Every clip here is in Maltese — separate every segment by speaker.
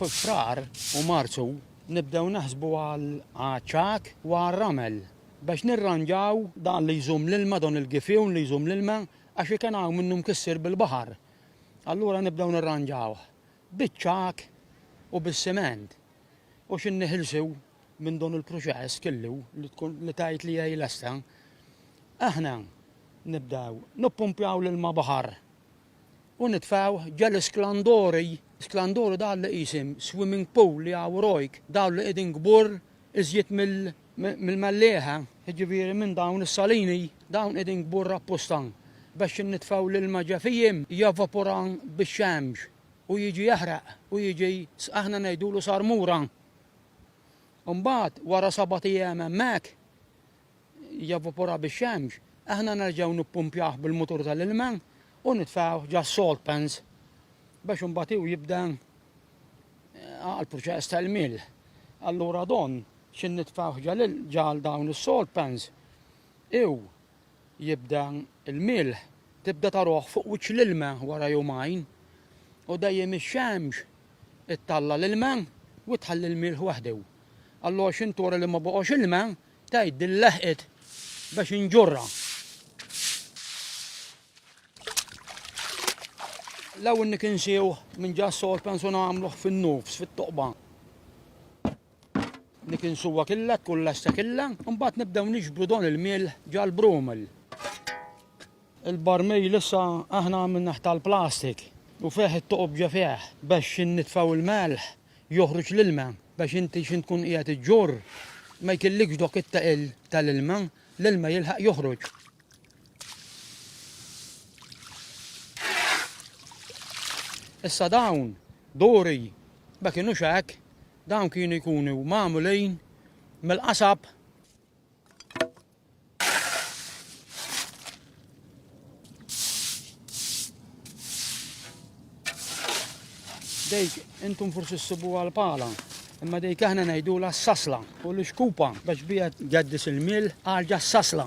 Speaker 1: F'Frar u Marzu nibdew naħsbu għaċ-ċagħaq u għar-ramel biex nirranġaw dan li jżomm l-ilma, dan il-gifjun li jżomm l-ilma għax iken hawn minnu mkissir bil-baħar. Allura nibdew nirranġawh biċ-ċagħaq u bis-siment u xi nniħilsu minn dan il-proċess kellu li tkun li tgħid li hija lesta, aħna nibdew nippumpjaw l-ilma baħar u nitfgħu ġa l-isklandori, sklandori dawn li qisim swimming pool li hawn wrajk, dawn li qegħdin kbur iżjed mill-mellieħa, jiġifieri minn dawn is-salini, dawn qegħdin kbur apposta biex innitfgħu l-ilma ġa fihim, jevapora bix-xemx u jiġi jaħraq u jiġi, aħna ngħidulu sarmura. u mbagħad wara sabat ijiem hemmhekk jevapora bix-xemx, aħna nerġgħu nippumpjawh bil-mutur tal-ilma u nitfgħuh ġas-salt pans biex imbagħad hu jibda għall-proċess ta' ilmiel. Allura don xi nitfgħuh ġal dawn is-salt pans hu jibda l-milħ, tibda taruh fuq wiċċ l-ilma wara jumajn, u dejjem ix-xemx ittalla' l-ilma u tħalli l-milħ waħdu. Allu għax intura li ma baqgħux ilma, tgħid din leħqet biex inġurha. L-ewwel nikinsiewh minn ġa s-sod pensu nagħmluh fin-nofs, fit-toqba. Nikinsuha killha, tkun lesta killha, u mbagħad nibdew niġbru don il-milħ ġal-brumel. Il-barmil issa aħna għamilnih tal-plastik u fih it-toqob ġa fih biex innitfgħu l-melħ joħroġ l-ilma biex inti x'int tkun qiegħed iġġorr ma jkillikx dok it-taqil tal-ilma, l-ilma jilħaq joħroġ. Issa dawn duri ma kinux hekk Dawn kienu jkunu magħmulin mill-qasab. Dejk intum forsi ssibuha l-pala, imma dejk aħna ngħidulha s-sasla u l-xkupa biex bija tgeddis il-mil għalġa s-sasla.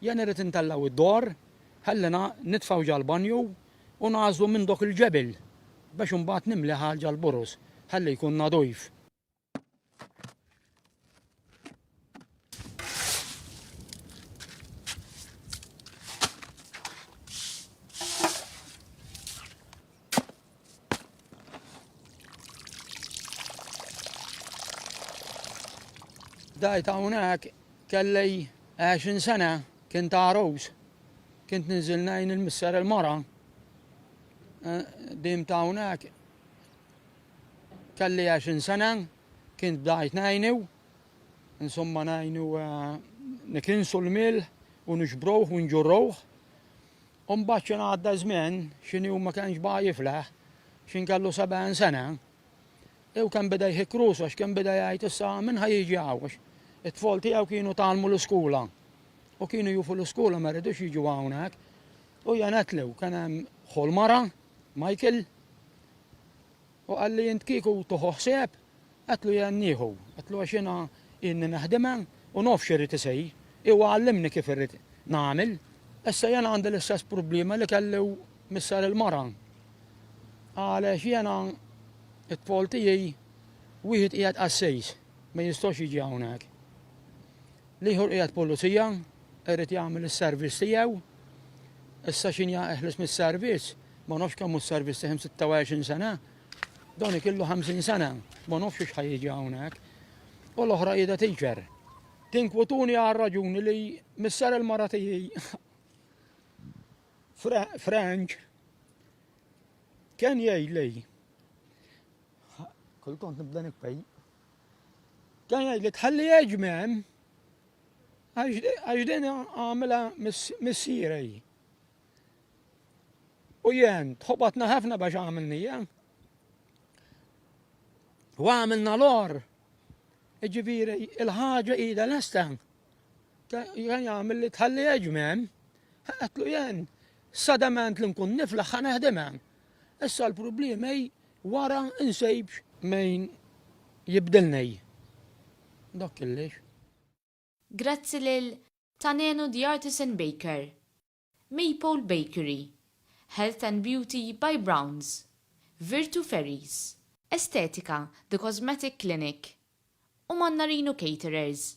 Speaker 1: Jien irrid intellgħu d-dor, ħallina nitfgħu ġall-banju u nagħżlu minn dok il-ġebel biex imbagħad nimliha ġall-burus ħalli jkun nadif. Dajt hawnhekk kellej 20 sena kien ta' Rose. Kint ninżil ngħin il-misser il-mara. Eh, dim ta' hawnhekk kelli 20 sena kien bdajt ngħinu. Insomma ngħinu eh, nikinsu l-mil u nixbruh u nġurruh. U mbagħad x'in għadda ż-żmien, x'in hu ma kenx baqa' jiflaħ, x'in kellu sebgħin sena, u kemm beda jħikk rusu għax kemm beda jgħid issa min ħa jiġi hawn għax it-tfal tiegħu kienu tgħallmu l-iskola u kienu jufu l-iskola ma jridux jiġu hawnhekk. U jenetlu kien hemm ħu l-mara, Michael, Hu qalli, Int kieku tuħu ħsieb? Għedtlu, Jien nieħu. Għedtlu, Għax jiena ilni neħdimha u naf x'irrid isir. Huwa għallimni kif irrid nagħmel. Issa jiena għandi l-istess problema li kelli u missier il-mara. Għaliex jiena t-tfal tiegħi wieħed qiegħed qassis, ma jistax jiġi hawnhekk. L-ieħor qiegħed pulizija, irrid jagħmel is-service tiegħu. Issa x'inhi eħles mis-servizz, ma nafx kemm hu s-servizz tiegħi, 26 sena. Dan ikillu 50 sena, ma nafx x'ħa jiġi hawnhekk. U l-oħra qiegħda tiġġer. Tinkwituni għal raġuni li misser il-mara tiegħi Frank kien jgħidli kultant nibda nikpej. Kien jgħidli tħalli ġmem Għax din għamilha missierej. U jien tħobatna ħafna biex għamilnija. U għamilna l-or. Ġifieri il-ħaġa ida lesta. Jien għamil li tħalli ġmen. Għatlu jien sadament li nkun niflaħ ħaneħdimen. Issa l-problemi wara insejbx. Min jibdilni dak killex.
Speaker 2: Grazzi lil Tanenu The Artisan Baker, Maypole Bakery, Health and Beauty by Browns, Virtu Ferries, Estetika The Cosmetic Clinic u Mannarino Caterers.